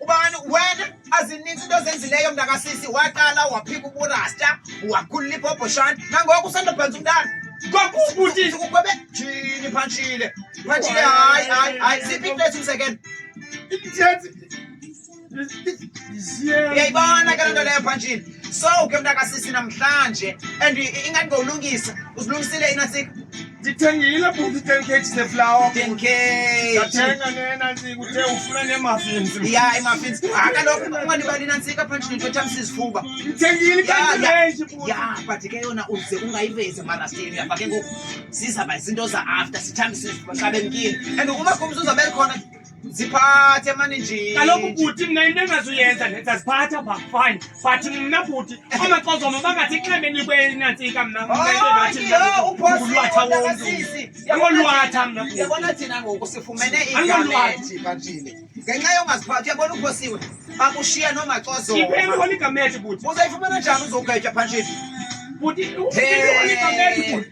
ubani wena azininzi into ozenzileyo mntakasisi waqala waphika uburasta wakhulula ibhobhoshana nangoku usandobhenza umntana kwakubutisi kukwebe jini phantshile phantshile hayi hayi hayi siphi into esimsekelo uyayibona ke loo nto leyo phantshile so ke mntakasisi namhlanje and ingathi ngowulungisa uzilungisile inasika ndithengile bhuti ten kg zeflawa ten kg ndathenga nena ntsika uthe ufuna neemafins ya iimafins ha kaloku ungalibali nantsika phantshi nento ethamisa izifuba ndithengile kanti ya but ke yona uze ungayivezi emarasteni uyafake ngoku zizaba izinto za-after sithambise izifuba xa bemkile and ukuba kumzi uzabeli khona ziphathe mani nje kaloku bhuti mna into engazuyenza ndenza ziphatha pha fine but mna bhuti amaxozoma bangathi xheme nikwe nantsika mna mnaulwatha womntu angolwatha mna yabona thina ngoku sifumene igameti bantile ngenxa yongaziphathi yabona uphosiwe bakushiya nomaxozoma ipeolikamethi bhuti uzayifumana njani uzogayitya phantshini bhuti ulikameti bhuti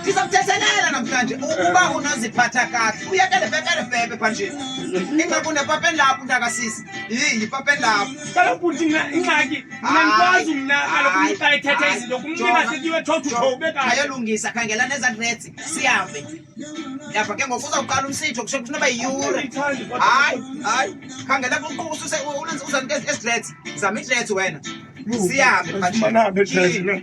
ndizamthethelela namhlanje ukuba unoziphatha kakuhle uyekele bebele bebe phanje ingakune papeni lapho ntakasisi yiyi papeni lapho kaloku bhuti ingxaki mna ndikwazi mna kaloku xa ethetha izinto kumnina setiwe thothuho ube kayo ayolungisa khangela nezadresi sihambe yava ke ngoku uzawuqala umsitho kusho kuthi noba yiyure hayi hayi khangela uzanike esidresi zama idresi wena sihambe phanje